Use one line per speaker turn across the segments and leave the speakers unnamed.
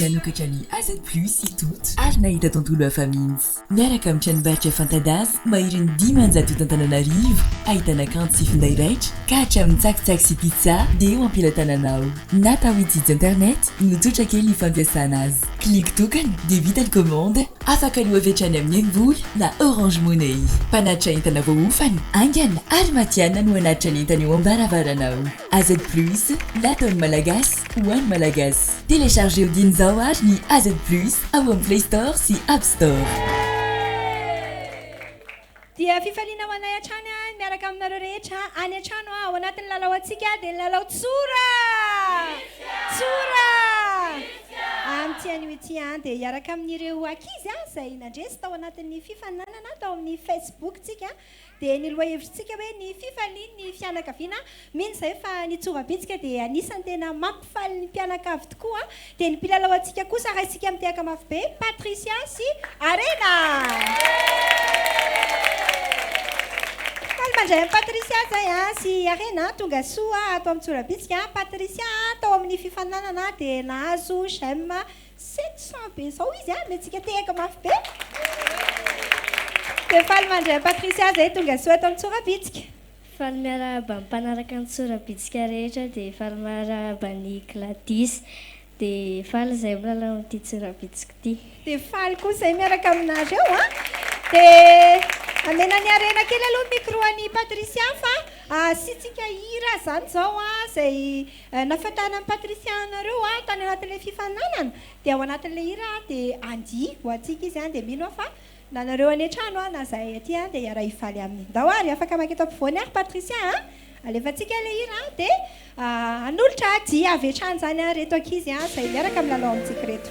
Nanokatra ny AZ Plus i Toto ary nahita tontolo hafa mihitsy. Miaraka amin'ny tranombarotra fanta-daza maherin'ny dimanjato eto Antananarivo, ahitana kanto sy finday raitra ka hatramin'ny tsakitsaky sy pizza dia eo am-pelatananao. Na tafitsitsy internet no tsotra kely ny fampiasana azy, clic tokana dia vita ny commande, afaka aloa avy hatrany amin'ny Emvola na Orange Money. Mpanatitra entana voaofana, haingana ary matihanina no hanatitra ny entana eo am-baravaranao. AZ Plus, lataon'ny Malagasy ho an'ny Malagasy. Telechargeo dieny izao ary ny AZ Plus ao amin'ny Play Store sy App Store.
Dia fifaliana ho anay hatrany ny miaraka aminareo rehetra any an-trano ao anatin'ny lalao antsika dia ny lalao Tsora! Tsora! Amin'ity anio ity dia hiaraka amin'ireo ankizy izay nandresy tao anatin'ny fifaninanana tao amin'ny Facebook-tsika dia ny lohahevitritsika hoe ny fifalian'ny fianakaviana, mino izay fa ny tsovam-pihetsika dia anisan'ny tena mampifaly ny mpianakavy tokoa, dia ny mpilalao antsika kosa raha isika mitehaka mafy be, Patricia sy Arena. Faly mandray an'i Patricia izay a, sy Arena, tonga soa ato amin'ny tsoram-pihetsika, Patricia tao amin'ny fifaninanana dia nahazo j'aime Sept cent be zao izy a, omentsika tehaka mafy be. Dia faly mandray an'i Patricia zay tongasoa eto amin'ny Tsorabitsika. Faly
miarahaba ny mpanaraka ny Tsorabitsika rehetra dia faly miarahaba an'i Gladys dia faly izay milalao amin'ity Tsorabitsiko ity. Dia faly koa izay
miaraka aminareo a. Dia amena ny harena kely aloha ny micro an'i Patricia fa asiantsika hira zany zao a izay Nahafantaran'i Patricia anareo aho tany anatin'ilay fifaninanana, dia ao anatin'ilay hira aho dia handihy ho antsika izy, dia mino aho fa na nareo any an-trano aho na zahay aty dia hiara-hifaly aminy. Ndao ary afaka maky eto ampovoany ary Patricia a! Alefantsika ilay hira dia hanolotra dihy avy hatrany izany ary ireto ankizy izay miaraka milalao amintsika ireto.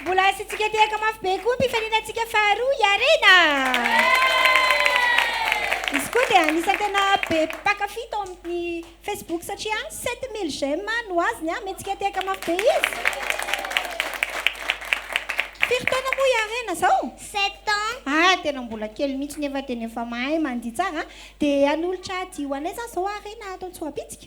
Mbola asiantsika tehaka mafy be koa ny mpifaninantsika faharoa, i Arena! Izy koa dia anisan'ny tena be mpankafy tao amin'ny Facebook satria 7000 j'aime no azony, amentsika tehaka mafy be izy. Firy taona moa i Arena izao? Sept ans. Ah, tena mbola kely mihitsy nefa tena efa mahay mandihy tsara. Dia hanolotra dihy ho anay izany izao Arena ato Antsohabintsika?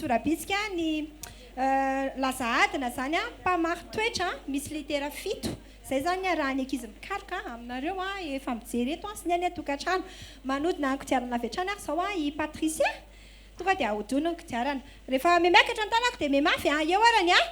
Tora-bitsika ny laza adina zany a, mpamari-toetra misy litera fito, zay zany raha ny ankizy mikaroka aminareo a, efa mijery eto a, sy ny any an-tokantrano. Manodina ny kodiarana avy hatrany ary zao a i Patricia, tonga dia ahodino ny kodiarana. Rehefa mihamiakatra ny tanako dia mihemafy a, eo ary ny ahy,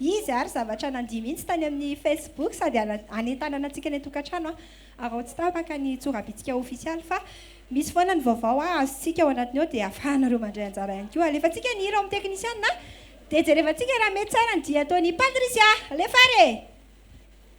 Izy ary zavatra nandia mihitsy tany amin'ny Facebook sady hanentanana antsika any an-tokantrano ary ao tsy tapaka ny tsorabitsika ofisialy fa misy foana ny vaovao azontsika ao anatiny ao dia afahanareo mandray anjara ihany koa. Alefantsika ny hira ao amin'ny teknisiana dia jerevantsika raha mety tsara ny dihy ataon'i Patricia. Alefa ary e!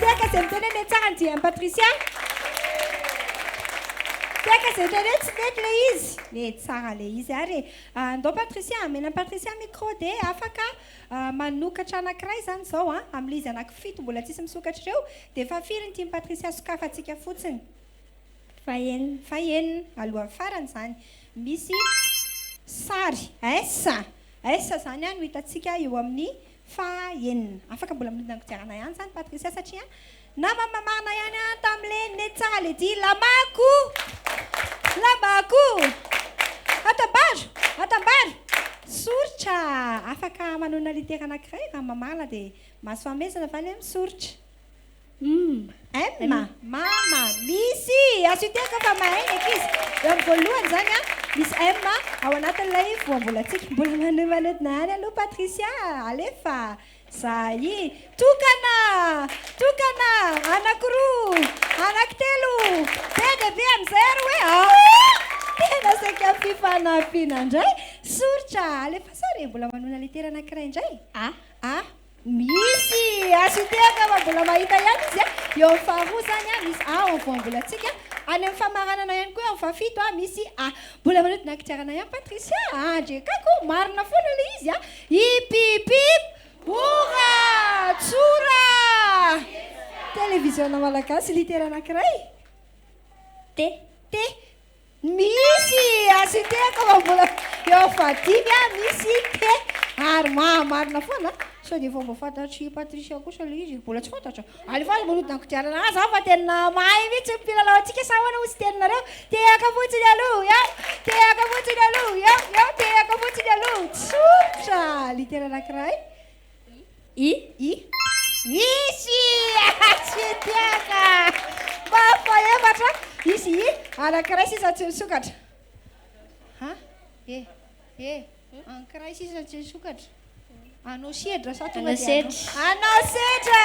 Tehaka izay miteny hoe mety tsara ny dian'i Patricia. Tehaka izay miteny hoe tsy mety ilay izy. Mety tsara ilay izy ary e. Ah, ndao Patricia, amena an'i Patricia micro dia afaka ah, manokatra anankiray izany izao an, amin'ilay izy anaky fito mbola tsisy misokatra ireo, dia fa firy ny tian'i Patricia sokafantsika fotsiny? Fahenina. Fahenina, alohan'ny farany izany. Misy sary. Ais. Aiza zany no hitantsika eo amin'ny faha enina? Afaka mbola manodina ny kodiarana ihany zany Patricia satria namama marina ihany an tamle nety tsara le dihy lamako lambako atambaro atambaro soritra afaka manonona litera anankiray raha mamarina dia mahasoa hamezana va le misoritra MM, Mama, misy! Azo iteaka fa mahay ny ankizy. Eo amin'ny voalohany izany an, misy M ao anatin'ilay voambolantsika. Mbola manomanodina ihany aloha Patricia, alefa! Zahai. Tokana! Tokana! Anankiroa! Anankitelo! Be dia be amin'izay ary hoe aoh! Tena saika fifanampiana indray. Soritra, alefaso ary e! Mbola manona litera anankiray indray. A. A. Misy azo hitehaka fa mbola mahita ihany izy eo amin'ny faharoa izany a, misy A eo amin'ny voambolantsika, any amin'ny famaranana ihany koa eo amin'ny fahafito a, misy A. Mbola manodina kodiarana ihany Patricia a, Andry Kako, marina foana ilay izy a, hip hip hip hora tsora! Televiziona malagasy, litera anankiray, T, T, Misy asitehako fa mbola eo fahadimy a, misy te ary mahamarina foana a. Sao dia efa voafantatr'i Patricia kosa ilay izy e? Mbola tsy fantatra. Alefaso manodina ny kodiarana aza fa tena mahay mihitsy ny mpilalao antsika sa ahoana hoy tsy tenonareo? Tehaka fotsiny aloha eo, tehaka fotsiny aloha eo, eo, tehaka fotsiny aloha. Tsotra! Litera anankiray, I, Misy! Tsy tiaka! Mba fahefatra, Misy i, Anankiray sisa tsy nisokatra. Ha? E, e, Anankiray sisa tsy nisokatra. Anao sedra sa tonga dia anao? Anao sedra!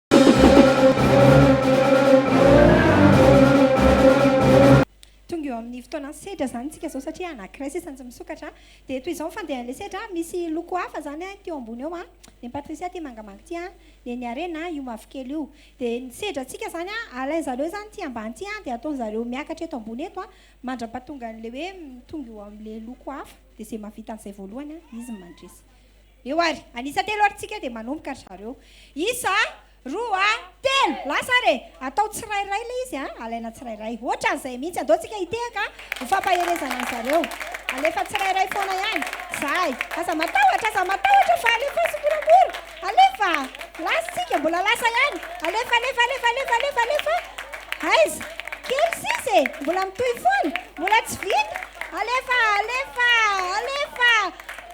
Tonga eo amin'ny fotoanan'ny sedra izany isika izao satria anankiray sisa no tsy misokatra. Dia toy izao ny fandehan'ilay sedra, misy loko hafa izany ity eo ambony eo, ny an'i Patricia ity mangamanga ity, ny an'i Harena io mavokely io. Dia ny sedrantsika izany, alain'ny zareo izany ity ambany ity dia ataon'ny zareo miakatra eto ambony eto mandra-pahatongan'ilay hoe tonga eo amin'ilay loko hafa. Dia izay mahavita an'izay voalohany izy no mandresy. Eo ary. An'isa telo ary tsika dia manomboka ry zareo. Isa, roa, telo! Lasa ary e! Atao tsirairay ilay izy an! Alaina tsirairay. Ohatran'izay mihitsy. Andao tsika hitehaka ho fampaherezana an-dry zareo. Alefa tsirairay foana ihany. Zahay. Aza matahotra, aza matahotra fa alefa tsimoramora. Alefa! Lasa tsika, mbola lasa ihany. Alefa, alefa, alefa, alefa, alefa, alefa. Aiza? Kely sisa e! Mbola mitohy foana. Mbola tsy vita. Alefa, alefa, alefa.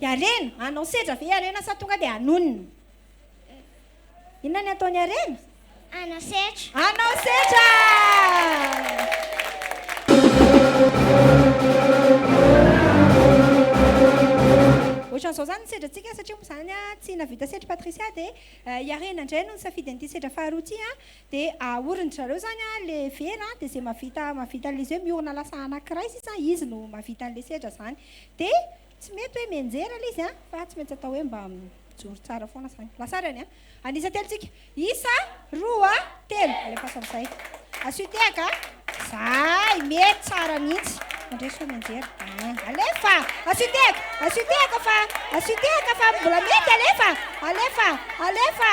Dia harena? Hanao sedra ve i harena sa tonga dia hanonona? Inona ny hataon'i harena? Hanao sedra. Hanao sedra! Ohatran'izao izany ny sedrantsika satria moa izany tsy nahavita sedra Patricia dia eh, i Harena indray no nisafidy an'ity sedra faharoa ity a dia ahorin zareo izany a le vera dia izay mahavita mahavita an'ilay izay miorina lasa anankiray sisa izy no mahavita an'ilay sedra izany Dia tsy mety hoe mianjera ilay izy fa tsy maintsy atao hoe mba mijoro tsara foana izany. Lasarany an. An'isa telo tsika. Isa, roa, telo. Alefaso amin'izay. Asio tehaka. Zay, mety tsara mihitsy. Mandray soa mianjera. Ah, alefa. Asio tehaka. Asio tehaka fa. Asio tehaka fa mbola mety alefa. Alefa. Alefa.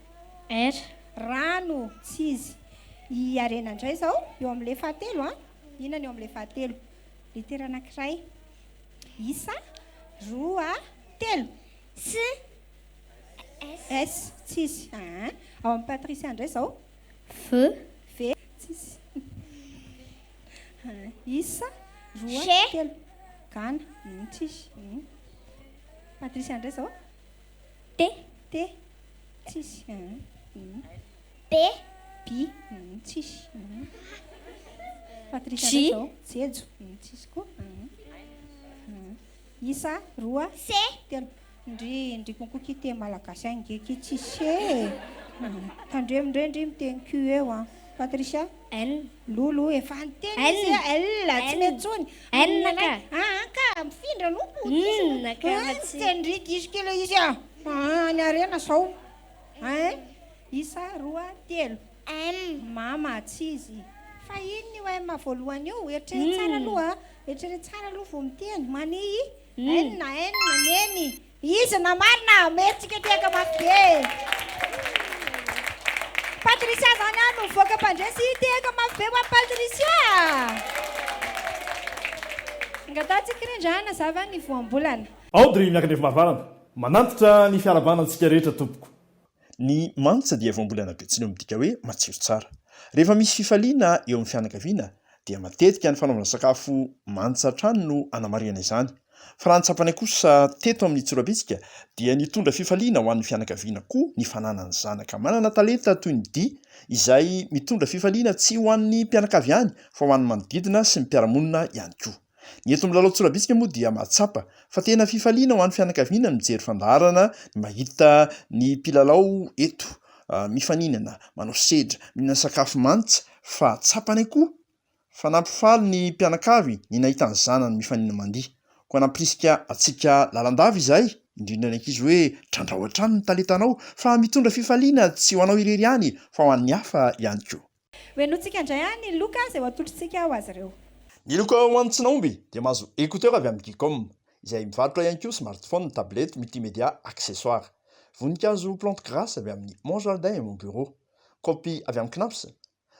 R, Rano tsy izy. I Harena indray izao, eo amin'ilay fahatelo an! Inona ny eo amin'ilay fahatelo? Letera anankiray. Isa, roa, telo. S, S tsy izy. Aa, ao amin'i Patricia indray izao. V, V tsy izy. Aa, isa, roa, G. telo. Gana, tsy izy. Patricia indray izao. T. T. Tsisy. B. B. Tsisy. Patricia zao. Jejo. Tsisy koa. Isa roa. C. Telo. Ndry ndry konko ki te malagasy ange ki tsisy. Tandremo ndray ndry miteny Q eo an. Patricia. N, Lolo efa niteny izy a! N, tsy mety tsony! N, ka! An ka! Mifindra no ko! N, ka! N, tsy te ndry diso kely izy a! Any harena zao! N, isa roa telo! M, mama tsy izy! Fa inona io M voalohany io? Eritrereto tsara aloha a! Eritrereto tsara aloha vao miteny! Mani i! N, N, neny! Izy na marina a! Merci Tsikiatiaka mafy be e! Patricia zany a no voaka mpandresy i Tehaka mafy be ho an'i Patricia Angataha tsy kirindra a nazava ny voambolana. Audrey Miakandrefy
Mahavarana, manantitra ny fiarahabana antsika rehetra tompoko. Ny
mantsa dia voambolana betsileo midika hoe matsiro tsara. Rehefa misy fifaliana eo amin'ny fianakaviana dia matetika ny fanaovana sakafo mantsa hatrany no anamarihana izany. Fa raha ny tsapanay kosa teto amin'ny Tsorabitsika dia nitondra fifaliana ho an'ny fianakaviana koa ny fananany zanaka manana talenta toy ny dihy izay mitondra fifaliana tsy ho an'ny mpianakavy ihany fa ho an'ny manodidina sy ny mpiara-monina ihany koa. Ny eto Milalao Tsorabitsika moa dia mahatsapa fa tena fifaliana ho an'ny fianakaviana ny mijery fandaharana, ny mahita ny mpilalao eto mifaninana, manao sedra, mihinana sakafo mants fa tsapany koa fa nampifaly ny mpianakavy ny nahita ny zanany mifaninana mandihy. Koa nampirisika antsika lalandava izahay, indrindra ny ankizy hoe trandraho hatrany ny talentanao fa mitondra fifaliana tsy ho anao irery ihany fa ho an'ny hafa ihany koa. Hohenointsika indray
an i Loka izay ho atolotrtsika ho azy ireo. Ny loka ho an'ny
tsy nahomby dia mahazo écouteur avy amin'ny Geekom, izay mivarotra ihany koa smartphone, tablette, multimédia, accessoires. Voninkazo plante grasse avy amin'ny Mon jardin et mon bureau. Kaopy avy amin'ny Knaps.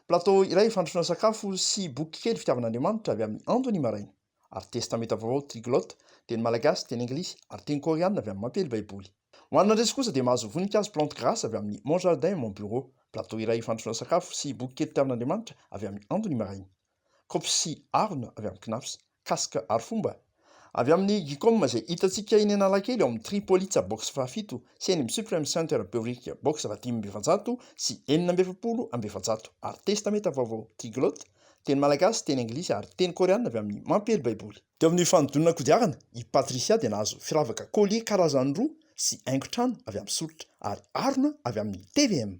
Plateau iray fandrosoana sakafo sy boky kely fitiavan'Andriamanitra avy amin'ny Andon'i Maraina. ary Testamenta Vaovao Triglotte, teny malagasy, teny anglisy, ary teny koreanina avy amin'ny Mampely Baiboly. Ho an'ny mandresy kosa dia mahazo voninkazo Plante Grace avy amin'ny Mon Jardin, Mon Bureau, plateau iray fandrosoana sakafo sy boky kely Tarihin'Andriamanitra avy amin'ny Andro ny Maraina, Kopy sy harona avy amin'ny Cnaps, Casque Arifomba avy amin'ny Gicom izay hitantsika eny Analakely ao amin'ny Tripolitsa Box fahafito sy eny amin'ny Supreme Center Beurique Box fahadimy amby efajato sy enina amby efapolo amby efajato ary Testamenta Vaovao Triglotte Teny malagasy, teny anglisy, ary teny koreanina avy amin'ny Mampiely Baiboly. Teo amin'ny fanodinana kodiarana, i Patricia dia nahazo firavaka collier karazany roa sy haingon-trano avy amin'ny soritra ary harona avy amin'ny tvm.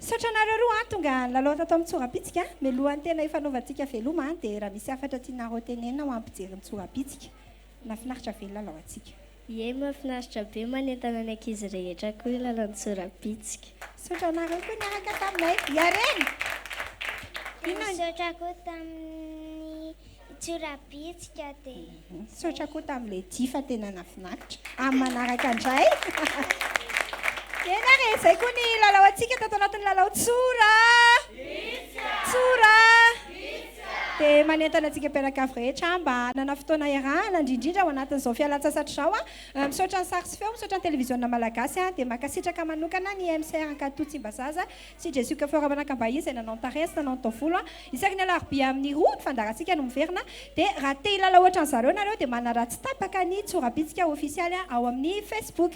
Misaotra anareo
roa an! Tonga nilalao tato amin'ny tsorabitsika. Mialohan'ny tena hifanaovantsika veloma dia raha misy hafatra tianareo tenenina ho an'ny mpijery ny tsorabitsika. Nahafinaritra ve ny lalaontsika? Yey mafinaritra
be manentana ny ankizy rehetra koa io lalan-tsorabitsika. Misaotra anareo
koa niaraka taminay. Yarena! Inona ny. Misaotra
koa tamin'ny tsorabitsika dia zay. Misaotra koa tamin'i
Lady fa tena nafinaritra. Amin'ny manaraka indray. Eny ary e, zay koa ny lalao antsika tato anatin'ny lalao tsora. Bitsika. Tsora. Bitsika. dia manentana antsika mpianakavy rehetra mba hanana fotoana hiarahana, indrindrindra ao anatin'izao fialan-tsasatra izao. Misaotra ny sary sy feo, misaotra ny televiziona malagasy, dia mankasitraka manokana ny MCR Ankatoa Tsimbazaza sy Jesuc Fort Manakambahiny izay nanao ny tarehy sy nanao ny taovolo. Isaky ny alarobia amin'ny roa ny fandaharantsika no miverina, dia raha te hilala ohatran'izareo nareo dia manaratsy tapaka ny tsorabitsika ofisialy ao amin'ny Facebook.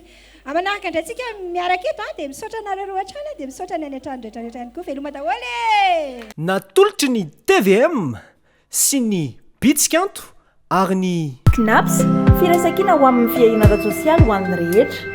A Manaraka indray tsika miaraka eto a, dia misaotra anareo roa hatrany a, dia misaotra ny any an-trano rehetra rehetra ihany koa, veloma daholo e! Natolotry ny
tvm sy ny Bitsikanto
ary ny. Cnaps,
Firaisankina
ho amin'ny fiahiana ara-tsosialy
ho
an'ny rehetra.